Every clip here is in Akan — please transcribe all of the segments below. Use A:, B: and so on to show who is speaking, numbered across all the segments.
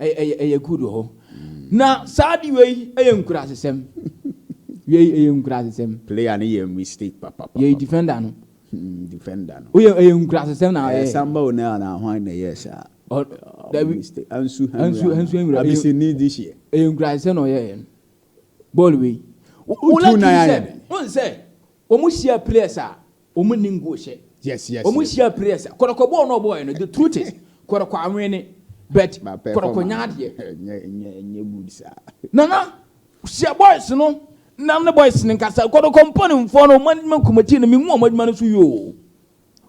A: Ɛyɛ ɛyɛ good wɔ hɔ. Na saa ade wei ɛyɛ nkurasesɛm. Wei ɛyɛ nkurasesɛm. Player no yɛ mistake
B: papapapa. Yɛ defender no.
A: Hmm defender
B: no. Woyɛ ɛyɛ
A: nkurasesɛm na ɔyɛ. Ɛyɛ samba o na na hwan
B: na ɛyɛ saa. Ɔ dabi. Mistake ansu hɛn. Ansu ansu
A: hɛn wura. Abisi ni di hyɛ.
B: Ɛyɛ nkurasesɛm na ɔyɛ
A: yɛn. Bɔɔl wei. Wo wo like sɛ. Wo nsɛ wɔn hyia players a. Ɔmo nni nguohyɛ. Yes yes yes. Ɔmo
B: hyia pire ɛsa.
A: Kɔrɔkɔ bɔɔ no ɔbɔɔɛ no the truth is kɔrɔkɔ awene but kɔrɔkɔ nya adeɛ. Ɛnyɛ ɛnyɛ good saa. Nana hyɛ boys no na ne boys no nkasa kɔrɔkɔ mpaninfoɔ no ɔmo adwuma kɔmɛti no menhu ɔmo adwuma no so yie oo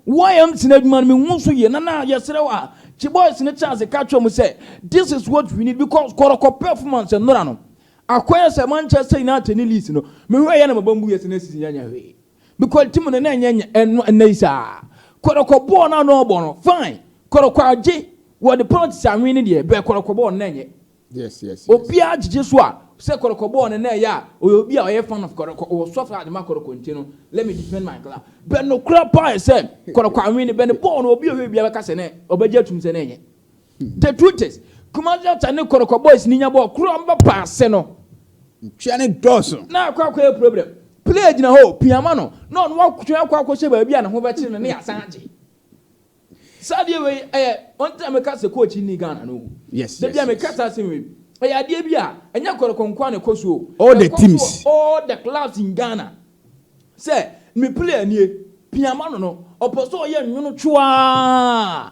A: YMC no adwuma no menhu so yie Nana yɛsrɛ wo a kye boys no chance ka kyerɛ ɔmo sɛ this is what we need because kɔrɔkɔ performance nnora no akɔyɛ sɛ Manchester United ne Leeds no mehwɛ yɛ na maba mbu yɛ sɛ na season yɛ nyɛ hwee Because team no na ɛnyɛ nyɛ ɛno ɛnɛ yi saa. Kɔrɔkɔ bɔɔl na na ɔbɔ no fine. Kɔrɔkɔ agye wɔ de penalties anwen ne deɛ bɛ kɔrɔkɔ bɔɔl no na ɛnyɛ. Yes yes yes.
B: Obiara gyegye
A: so a sɛ kɔrɔkɔ bɔɔl no na ɛyɛ a ɔyɛ obi a ɔyɛ fan of kɔrɔkɔ ɔwɔ soft heart ma kɔrɔkɔ nti no let me defend my club. Bɛ nokorɛ paa yɛ sɛ kɔrɔkɔ anwen ne bɛ ne bɔɔl no obi a ɔhwɛ biara bɛka sɛ na ɔbɛgye atum sɛ na ɛnyɛ. The truth is, Kumasi Ata ne Kɔrɔkɔ boys ni nya bɔɔl koro a ɔmo bɛpa ase no. Ntua ne
B: dɔɔso. Na akɔ akɔyɛ problem.
A: Player gyina hɔ, pia ma no, na ɔno watwe akɔ akɔhyɛ baabi a ne ho bɛkyere no na yɛasan agye. Saa adeɛ wei ɛyɛ one time meka sɛ coach nni Ghana no. Yes, Da yes, bia meka yes.
B: saa asɛm wei.
A: Ɛyɛ adeɛ bi a ɛnyɛ Kɔrɔkɔ nko ara na ɛkɔ so o. All the Ɛkɔ so
B: teams. wɔ all the clubs in
A: Ghana. Sɛ me player nie, pia ma no no, ɔpɛ sɛ ɔyɛ nwono twoaa.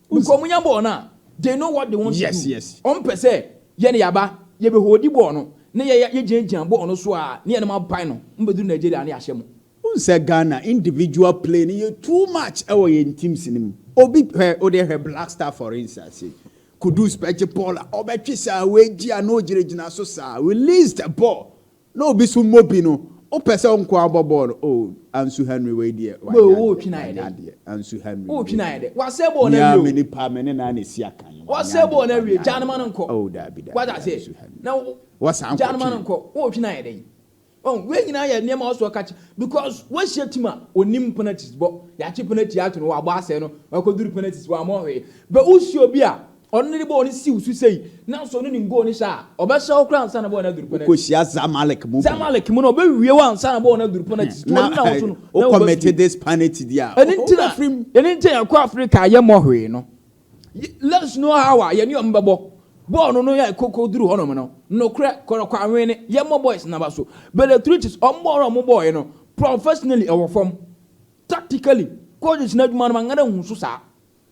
A: Because ɔmo nya bɔɔl no a, they know what they want to do. Ɔmo pɛ sɛ yɛne yɛaba, yɛbɛ hoodi bɔɔl no, na yɛya yɛgyina gyina bɔɔl no so aa, na yɛnom apae no, ɔmo bɛduru Nigeria a na yɛahyɛ mo. Wohu sɛ Ghana
B: individual play no yɛ too much wɔ yɛn teams no mu. Obi, hwɛ, wode hwɛ Black Star for instance sei, Kudus bɛgye bɔɔl a, ɔbɛtwe saa, wagyi a na ɔgyina gyina so saa, release the ball. Na obi so mmɔ bi no wopɛ sɛ ɔnko ara bɔ bɔɔl no oh Ansu Henry wei deɛ wanyɛ adeɛ
A: Ansu
B: Henry wei deɛ
A: mia me nipa me ne naa na
B: ɛsi akan yi wanyɛ
A: adeɛ oh daabi daabi
B: Ansu
A: Henry wasan
B: kɔtwe.
A: Oh wei nyinaa yɛ nneɛma ɔsɔ ka kyerɛ because wahyɛ team a onim penalties bɔ yɛakye penalty ato no wabɔ asɛe no wakɔduru penalties wammɔ hwee but wosi obi a Ɔno ne ne bɔɔl no siw so sei, nanso ɔno nim goal no hyɛ a, ɔbɛhyɛ hɔ koraa ansa na bɔɔl no aduru penalty. Wokɔhyia Zamalek mu bi. Zamalek mu no, ɔbɛwie hɔ ansa na bɔɔl no aduru penalty so. Ɔno na ɔso no, na wobɛwie. Wokɔmɛte this
B: penalty di a, Ɛno nti na, wofiri mu.
A: ɛno nti na yɛkɔ Afrika a yɛmmɔ hwee no. Ye, let's know how a yɛne wɔn bɛbɔ. Bɔɔl no no yɛ koko duru hɔnom no, nokorɛ, kɔrɔkɔanwene, yɛmmɔ boys no aba so. Bellatrix, wɔn bɔɔl no a wɔn bɔɔeɛ no, professionally ɛwɔ fam. Tactically, coaches no adwuma no, manka dɛ nhu so saa.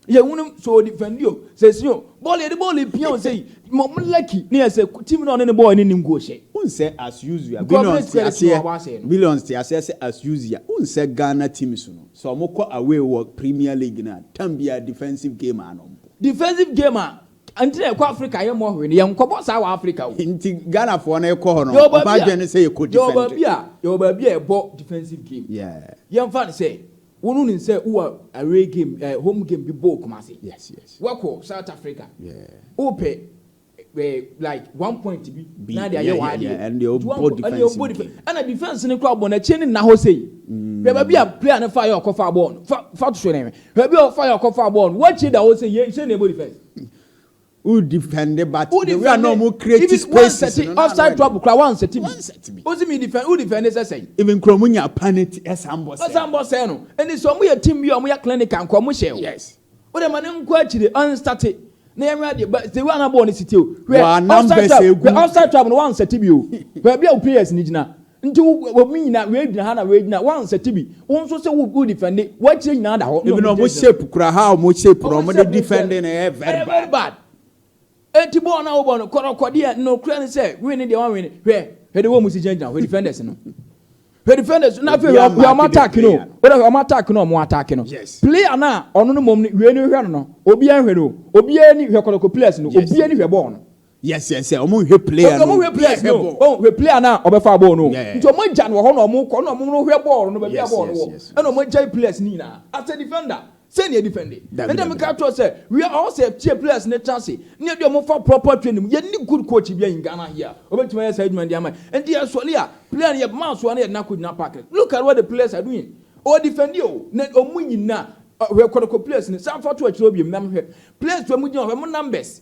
A: Yɛ wunu sɛ ɔdi fɛndi o, sɛ si o, bɔɔl yɛde bɔɔl epia o sei, ma ɔmo lucky ne yɛ sɛ team no a ɔne ne bɔɔl ne ne ngu ɔhyɛ. Wohu sɛ as
B: usual Billions te aseɛ Billions te aseɛ sɛ as usual wohu sɛ Ghana teams no sɛ ɔmo kɔ away wɔ Premier League no a tam biara defensive game ara na ɔmo bɔ. Defensive game
A: a nti na yɛkɔ Africa yɛ mmɔ hwee no yɛn nkɔbɔ saa wɔ Africa o. Nti Ghanafoɔ
B: no kɔ hɔ no ɔmo adwene ne sɛ yɛkɔ defend. Yɛwɔ baabi a yɛwɔ baabi
A: a yɛbɔ defensive game yeah. Yɛnfa no
B: sɛ.
A: Wo no nim sɛ wowɔ away game eh, home game bi bɔɔ Kumasi. Yes yes. Woakɔ
B: South
A: Africa. Yeah. Wopɛ eh, like one point bi na de ayɛ w'adeɛ. Yeah yeah. Ɛnna
B: deɛ ɔbɔ defense bi game. Ɛnna defense no
A: kura bɔ n'akyi ne nna hɔ sei. Hwɛ baabi a player no fa yɛ ɔkɔ fa bɔɔl no. Fa fa to so na hwɛ. Hwɛ baabi a ɔfa yɛ ɔkɔ fa bɔɔl no. Woakyi da hɔ sei yɛ sɛ na ɛbɔ defense. Wo
B: defend but the way a na ɔmo create spaces no na annoy me. Even wɔnsɛte offside trouble koraa
A: wɔnsɛte bi. Wose me defend wo defend sɛ sɛn. Even koraa ɔmo nya penalty
B: ɛsan bɔ sɛɛ. Ɔsan bɔ sɛɛ no. Ɛnde sɛ
A: ɔmo yɛ team bi a ɔmo yɛ clinical nko a ɔmo hyɛ o. Wode ma
B: no nkɔ
A: akyire ɔnstate na yɛnhwɛ adeɛ but the way a na bɔɔl no si te o. Hwɛ offside trouble hwɛ offside trouble no wɔnsɛte bi o. Baabi a wo players no gyina. Nti wo wɔn nyinaa wei gyina ha na wei gyina wo ansɛte bi wo nso sɛ wo wo defɛnde wɔakyire nyinaa da hɔ. Even wɔn shape
B: kura ha wɔn shape no wɔn de defɛnde
A: no
B: ɛyɛ very bad. bad. Eti
A: bɔɔl na wɔbɔ no kɔrɔkɔdeɛ nokorɛ no sɛ win no deɛ wɔn win hwɛ hwɛ de wɔn mu si gyina gyina hwɛ defenders no hwɛ defenders no afei hwɛ hwɛ wɔn attack no wɔn hwɛ wɔn attack no wɔn attack no player na ɔno no mom no wei no hwɛ no no obiara hwɛ no obiara ni hwɛ kɔrɔkɔ players no obiara ni hwɛ bɔɔl no. Yes, yes, sɛ ɔmo
B: nhwɛ player no. Ɔmo hwɛ player no. Ɔmo
A: hwɛ player no a ɔbɛfa bɔɔl no. Nti ɔmo agya no wɔ hɔ na ɔmo kɔ na ɔmo no hwɛ bɔɔl no baabi a bɔɔl no wɔ. Ɛna ɔmo agya players no nyinaa. As a defender, sɛn na yɛ defend? Ɛna mi ka kyerɛ sɛ we are all set tie players no tra ase na yɛ de ɔmo fa proper training mu. Yɛ ni good coach bi a in Ghana here. Ɔbɛtumi ayɛ saa adwuma no de ama yɛ. Nti yɛ sɔre a player no yɛ ma asoa na yɛ de no akɔ gyina park no. Look at what the players are doing. Ɔ defend o na ɔmo nyinaa. Hwɛ kɔtɔkɔ players no. San fa to akyire hɔ biom na hwɛ players a ɔmo gyina hɔ hwɛ ɔmo numbers.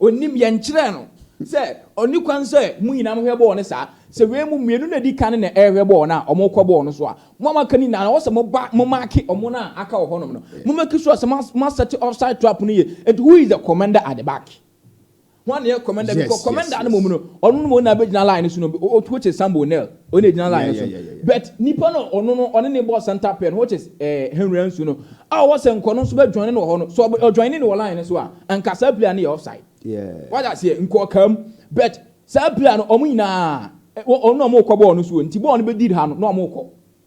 A: Ɔnim, yɛnkyerɛɛ no sɛ ɔnni kwan sɛ mo nyinaa mohwɛ bɔɔl no saa. Sɛ wei mo mmienu na ɛdi kan na ɛrehwɛ bɔɔl no a, wɔkɔ bɔɔl no so a, mo a moaka no nyinaa no, ɛwɔ sɛ moba momaake wɔn a aka wɔ hɔnom no. Mommaki sure sɛ moasɛte offside trap no yie. Enti who is the commander at the back? Hwan na ɛyɛ commander? Because commander no mmom no, ɔno na mmom na bɛgyina line no so no, which is Sambo Nel. Wei na egyina line no so no. But nipa no a ɔno no ɔne no bɔɔ center pair no which is eh, Henry Ansu no a ɔwɔ Sɛnkɔ no nso bɛ joine no wɔ hɔ no, sɛ ɔ joine no wɔ line no so a, anka saa player no yɛ offside. Yeah. Wate aseɛ? Nka ɔkaa mu. But saa player no, wɔn nyinaa, ɛ, wɔn na wɔrekɔ bɔɔl no so o, nti bɔɔl no bɛ did ha no na wɔrekɔ.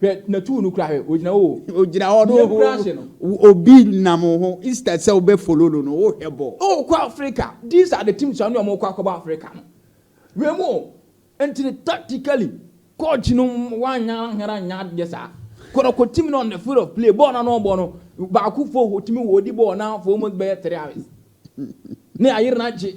B: Hwɛ na
A: tuu no kura hwɛ ogyina hɔ o. Ogyina hɔ no
B: ho obi nam wo ho instead sɛ wobɛ follow no no wo hwɛ bɔ. Oh kɔ Africa
A: these are the teams a ne ɔmo kɔ akɔbɔ Africa no wei mu o nti no tactically coach no wanyɛ anhwɛ anyɛ adeɛ saa kɔrɔkɔ team no on the field of play bɔɔl na na ɔbɔ no baako fo ɔtumi wɔ ɔdi bɔɔl na for almost bɛyɛ three hours ne ayere no agye.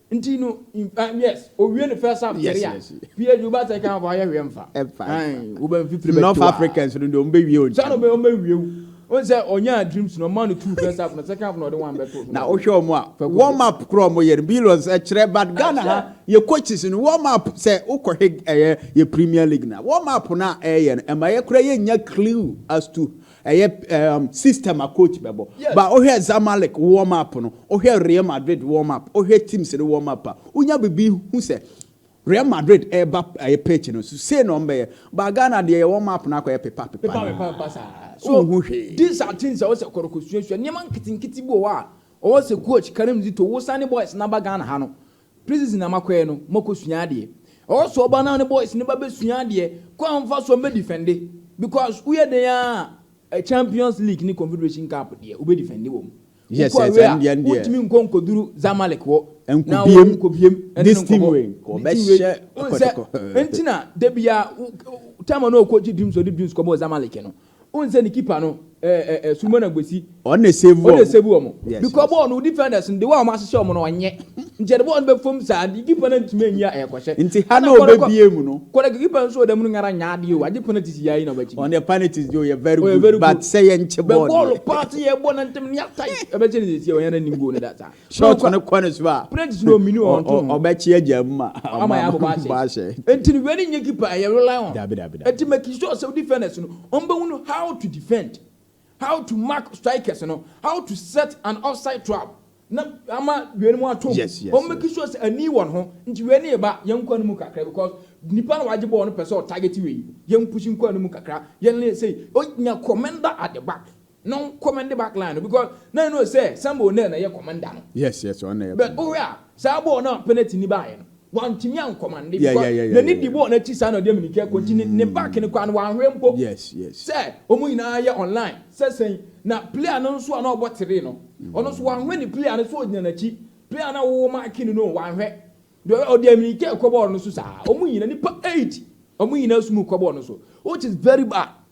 A: Nti no yes owie ne first half kyɛre a PSG wo ba second half ayɛ hwee mfa ae wo ba mfifiri bɛto a North Africans no deɛ ɔmo bɛ
B: wie ɔntɛm saa na ɔmo bɛ wie wo
A: wɔn sɛ ɔnyaa dreams no ɔmaa no two first half no second half no ɔde one bɛto so na wohwɛ ɔmo a
B: warm up koro ɔmo yɛ no billions ɛkyerɛ but Ghana ha yɛ coaches no warm up sɛ wokɔ hwɛ ɛyɛ yɛ Premier League na warm up no a ɛyɛ no ɛma yɛ kora yɛ nya clue as to Ɛyɛ um, system a coach bɛbɔ. Yes. Ba wohwɛ Zamalek warm up no, wohwɛ Real Madrid warm up, wohwɛ teams no warm up a, wonya biribi hu sɛ Real Madrid ɛreba ɛyɛ pitch no so sei na ɔmbɛyɛ. Ba Ghana deɛ yɛ warm up no akɔyɛ pepa pepa. Pepa pepa pepa saa. So
A: wohu hwee. These are things a wɔsɛ kɔrɔkɔsuasua nneɛma nketenkete bi wɔ hɔ a ɔwɔ sɛ coach Karim Zito wosan ne boys n'aba Ghana ha no. Places na makɔɛ no mo kɔ sua adeɛ ɛhɔ so ɔba na ne boys no ba bɛ sua adeɛ kwan mfa so mbɛ defende because wo yɛ dɛn aa champions league ne confederation cup deɛ wo bɛ defende wɔ mu wo kɔ away a
B: wo ntumi nkɔ nkɔduru
A: zamalek hɔ na wo wo nkɔ biem ɛne no nkɔbɔ
B: ne team wei wo nsɛ ntina da
A: biaa wo time a na ɔkɔ gye dreams ɔde dreams kɔbɔɔ zamalek no Wohu sɛ ne keeper no ɛɛ ɛɛ Suleman Agbesi. Ɔno na esave wɔn. Ɔno na
B: esave wɔn. Yes. Because
A: bɔɔl no defenders no de wɔn a wɔahyehyɛ wɔn no ɔnyɛ. Nti ɛde bɔɔl no bɛ fam saa nti keeper no antumi anyi a ɛkɔhyɛ. Nti ha na ɔbɛbie
B: mu no. Kɔrɛ keeper nso wɔ dɛm no nyɛ
A: ara nyɛ adeɛ o agye penalties yɛ ayi na ɔbɛkye bi. Ɔno deɛ penalties deɛ ɔyɛ
B: very good but sɛ yɛnkye bɔɔl deɛ. Bɛ bɔɔl paa sɛ
A: yɛbɔ no ntɛm no yɛ atae ɛbɛkye no sɛsi a ɔnyɛ ara nnim goal no da saa. Short no kɔ ne so
B: a, Practice no omini wɔn to
A: no. ɔbɛkye agya mu ma
B: Ama yɛ abobɔ ahyɛ. abobɔ
A: ahyɛ. Enti no wei ne nyɛ keeper a ɛyɛ rely on. Dabi, dabi, dabi. Enti making sure sɛ wo defenders no wɔn bɛ hunu how to defend, how to mark strikers no, how to set an offside trap na ama wei nom atom. Yes, yes, Wɔn making yes. sure sɛ ani wɔn ho. Nti wei ne yɛba yɛn nkwa no mu kakra because nipa no wagye bɔɔl no pɛ sɛ ɔtarget wei. Yɛn push nkwa no mu kakra. Yɛn ne sei. Ɔnya commender at the back. No command back line no because na ɛno sɛ Samuel Onel na ɛyɛ
B: commander
A: no. Yes yes ɔno na ɛyɛ commander. But
B: wohwɛ a
A: saa bɔɔl no a penalty ni baayɛ no wantumi ankɔmande because n'ani di bɔɔl
B: no akyi saa na
A: ɔde amini kɛ kɔ nti ne ne back no koraa no wanhwɛ mpo. Yes yes. Sɛ
B: wɔn nyinaa
A: yɛ online sɛ sɛn na player no nso a na ɔbɔ three no ɔno nso wanhwɛ ne player no sɛ ɔgyina n'akyi player no a wɔwɔ marking no no wanhwɛ deɛ ɔyɛ ɔde amini kɛ kɔ bɔɔl no so saa wɔn nyinaa nipa eight wɔn nyinaa sum kɔ bɔɔl no so which is very bad.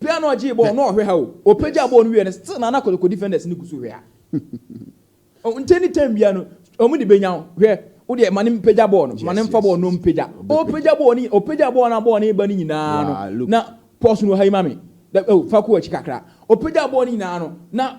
B: Pɛ a na ɔgyee bɔɔl no
A: ɔhwɛ ha o. Ɔpagyaa bɔɔl no wiee no still na na Kotoko defenders no gu so hwɛ ha. Nkyɛ ne time biara no wɔn de bɛnya wo. Hwɛ wo deɛ ma no mpagya bɔɔl no, ma no mfa bɔɔl no na ɔmpagya. Ɔpagya bɔɔl no, ɔpagyaa bɔɔl no a bɔɔl no reba no nyinaa no na pause no wɔ ha yi ma me, oh fa kɔ w'akyi kakra. Ɔpagyaa bɔɔl no nyinaa no na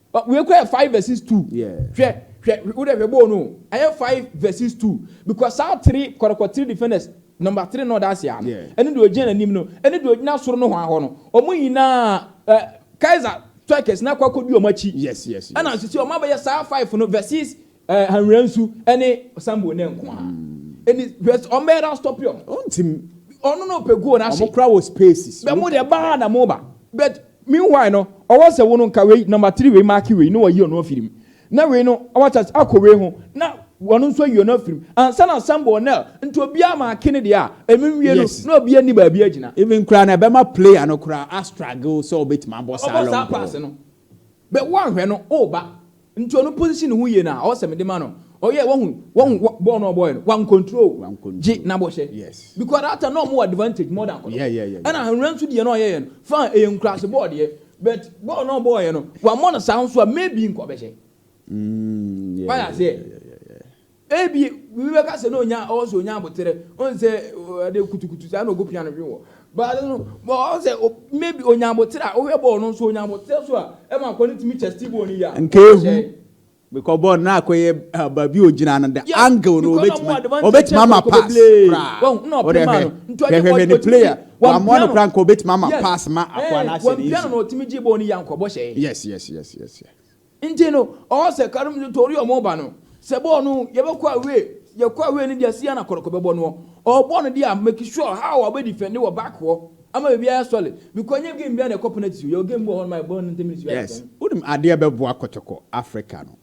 A: Ɔ, wei koraa yɛ five verses two. Yeah. Hwɛ, hwɛ, wo dɛ hwɛ bɔɔ no o, ɛyɛ five verses two, because saa three kɔrɔkɔ three defenders, number three na ɔda ase a no, Yeah. ɛne deɛ ɔgyina n'anim no, ɛne deɛ ɔgyina soro nohoa hɔ no, wɔn nyinaa, ɛ, Kaiser Turkers no akɔ akɔdi wɔn akyi. Yes, yes, yes. Ɛna nso sɛ
B: wɔn abɛyɛ
A: saa five no verses Eh, Hanwura Nsu ne Sambo Nɛ nko ara. Ɛni hwɛ sɛ ɔmbɛyɛ dɛ astɔpe ɔmo. Ɔntim. Ɔno na ɔpɛ guo no ahye. Ɔmo koraa wɔ spaces. Bɛ mo
B: deɛ baa na
A: moba. But meanwhile no, ɔwɔ sɛ wo no nka wei number three wei marke wei na wayi ɔno afiri mu. Na wei no wate ase akɔ wei ho na ɔno nso ayi ɔno afiri mu ansa na Sambo Nɛ nti obiara marke ne deɛ a ɛno nwie no Yes. na obiara nni baabi agyina. Even koraa no ɛbɛma
B: player no koraa a struggle sɛ ɔbɛtumi abɔ saa long ball. Ɔbɔ saa pass no.
A: Bɛ wo anhwɛ no o ba nti ɔno po nsi ne ho yie no a ɔwɔ sɛ mede ma no ɔyɛ wahu wahu wa bɔɔl no ɔbɔɔyɛ no wa nkontrol gye na bɔ hyɛ yes because that time na
B: ɔmo wɔ
A: advantage more than akɔdɔ yeah yeah yeah ɛna ahwera
B: nso deɛ
A: na ɔyɛyɛ no fine ɛyɛ nkurase bɔɔl deɛ but bɔɔl na ɔbɔɔyɛ no wa mɔ no saa nso a maybe nkɔ bɛ hyɛ mm yeah yeah yeah yeah yeah Ebia obi bɛka sɛ na onya ɔwɔ sɛ onya aboterɛ, ɔn sɛ ade kutukutu saa na ɔgu piano hwe wɔ. But no, ɔn sɛ maybe onya aboterɛ a, wohwɛ bɔɔl no nso onya aboterɛ so a, ɛma akɔ no tumi chest bɔɔl no yie a, ɔn sɛ. Because
B: bɔɔl no na akɔ yɛ baabi ogyina no, the angle no ɔbɛtumi ama pass koraa. Wode
A: hwɛ, hwɛ hwɛ
B: ne player, wamoa no koraa nka ɔbɛtumi ama pass ma akɔ anaasɛ
A: ne nsu. Yes, yes, yes, yes. Nti no ɔwɔ sɛ kar mu tori ɔmo ba no sɛ bɔɔl no yɛbɛkɔ away yɛkɔ away no deɛ sia na kɔrɔkɔ bɛbɔ noɔ ɔɔbɔ no deɛ a make sure how a ɔbɛ defend wɔ back hɔ ama baabi ayɛ sɔle bikɔ nyɛ game biaa na ɛkɔ penalty o yɛwɔ game bi wɔ hɔ nom a yɛbɔ no ten minutes biaa Yes yɛtɔn wonim adeɛ
B: bɛboa kɔtɔkɔ Africa no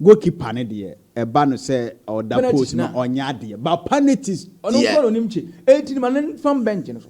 B: goal keeper no deɛ ɛba no sɛ ɔda penalties post no no a ɔnyɛ adeɛ but penalties ɔno nko deɛ. na ɔnim kye
A: enti no ma no nfam bench no so.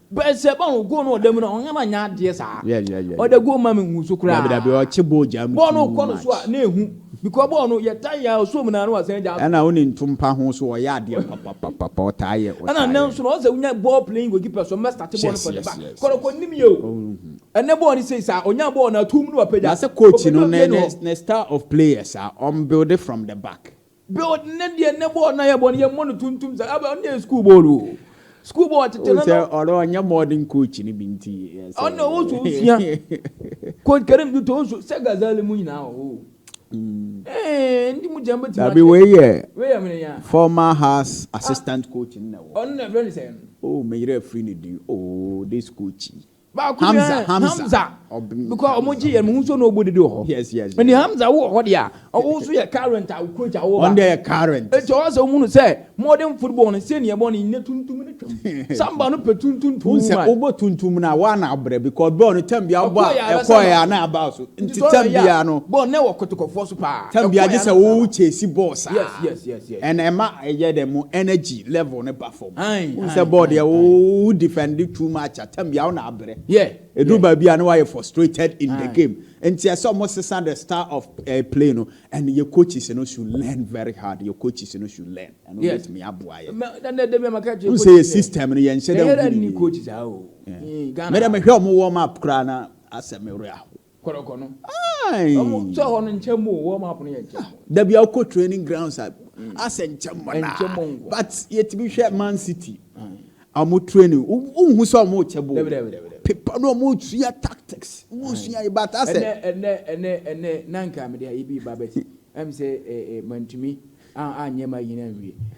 B: Bɛɛ
A: sɛ bɔɔl no goal no wɔ dɛm mu no a ɔnnyɛ ma nnyɛ adeɛ saa. Yeah yeah yeah. Ɔdɛ goal ma me nhu so koraa. Dabi dabi ɔkye bɔɔl gyaa mu
B: too much. Bɔɔl no kɔ no so a na
A: ehu because bɔɔl no yɛ tan yɛ a ɔsɔ mu na na wasan gyaa so. Ɛna wo ne ntompa ho
B: so ɔyɛ adeɛ papapapapa ɔtaa yɛ ɔtaa yɛ. Ɛna nnɛ nso no ɔsɛ
A: wonya bɔɔl playing goalkeeper so ɔmmɛ starte bɔɔl no from the back. Kɔrɔkɔ nnim yɛ o. Ɛnɛ bɔɔl no sei saa ɔnya bɔɔl no a tuum na wapagya. Na sɛ coach no ne ne
B: ne style of players a ɔmbuilde from the back. Build ne deɛ
A: ne bɔɔl no ayɛ bɔ no yɛ mmɔ no tuntum saa abɛ ɔno yɛ school bɔɔl o school bɔɔl tete no. Sɛ ɔno ɔnyɛ modern
B: coach no bi nti. Ɔno ɔwɔ so
A: osua coach Karim Duto nso sɛ Ghazali mu nyinaa wɔ hɔ o. Ɛɛ ndi mu gyɛn bɛ ti ma. Dabi wei yɛ wei
B: yɛ mene ya.
A: Former house
B: assistant coach no na wɔ. Ɔno
A: na
B: ɛfrɛ ne sɛn.
A: Oh
B: meyerɛ afiri ne din
A: oh
B: this
A: coach
B: yi. Baako deɛ Hamza, Hamza.
A: Hamza Ɔbɛn- because wɔn Hamza gye yɛn mu nso na ɔbɔ dede wɔ hɔ Yes, yes, yes. ɛni Hamza
B: wɔ hɔ
A: deɛ a ɔwɔ nso yɛ current a ɔkurakyi a ɔwɔ ba Ɔno deɛ yɛ current.
B: eti ɔwɔ sɛ ɔmu no sɛ
A: modern football no sɛ nea ɛbɔ no nyɛ tuntum ne twam samba no pɛ tuntum too Wohu sɛ much wobɔ
B: tuntum no a woa na abrɛ because bɔɔl no tam biara wobɔ a Ɛkɔɔ yɛ a, ɛkɔɔ yɛ a bɛsɛ na aba so nti Nti sɛ tam ɔyɛ a, biara no bɔɔl no wɔ kɔtɔkɔfoɔ
A: so paa tam biara Ɛkɔɔ gye yɛ a sɛ na aba. wo
B: chase bɔɔl saa Yes, yes, yes, yes.
A: ɛna ɛma
B: ɛyɛ dɛ mo energy level no ba fam Wohu sɛ bɔɔl deɛ wo wo defend too much a tam bia wo na abrɛ. Yeah. Edu baabi
A: a na wayɛ
B: frustrated in the game. Nti ɛsɛ ɔmo sesa the style of uh, play no and your coaches no should learn very hard. Your coaches no should learn. Ɛno Yes. betumi aboa yɛ. Ma- na- na- dɛm a maka kyerɛ N sɛ coaches yɛ sɛ, system no yɛnhyɛ dɛ Yɛyɛ dɛ nhu ne nni yie. coaches a o. Eh,
A: Ghana Mede ha. mehwɛ
B: ɔmo warm up koraa na asɛ me werɛ ahow. Kɔrɔkɔ
A: no. Wɔn sɛ hɔ no nkyɛn mu o, wɔn map no yɛ nkyɛn mu. Da bi a wokɔ
B: training grounds a, asɛ nkyɛn mu naa. Nkyɛn mu nko. But yɛtumi hwɛ Man City, wɔn training, wonhu sɛ wɔn rekyɛ ball. Dabi, dabi, dabi. Pepa no, wɔn resua tactics, wɔn resua yi, but asɛ. Ɛnɛ, ɛnɛ, ɛnɛ, ɛnɛ,
A: na nka mede ayi bi ba but ɛm sɛ mantumi anyɛ ma yini anwie.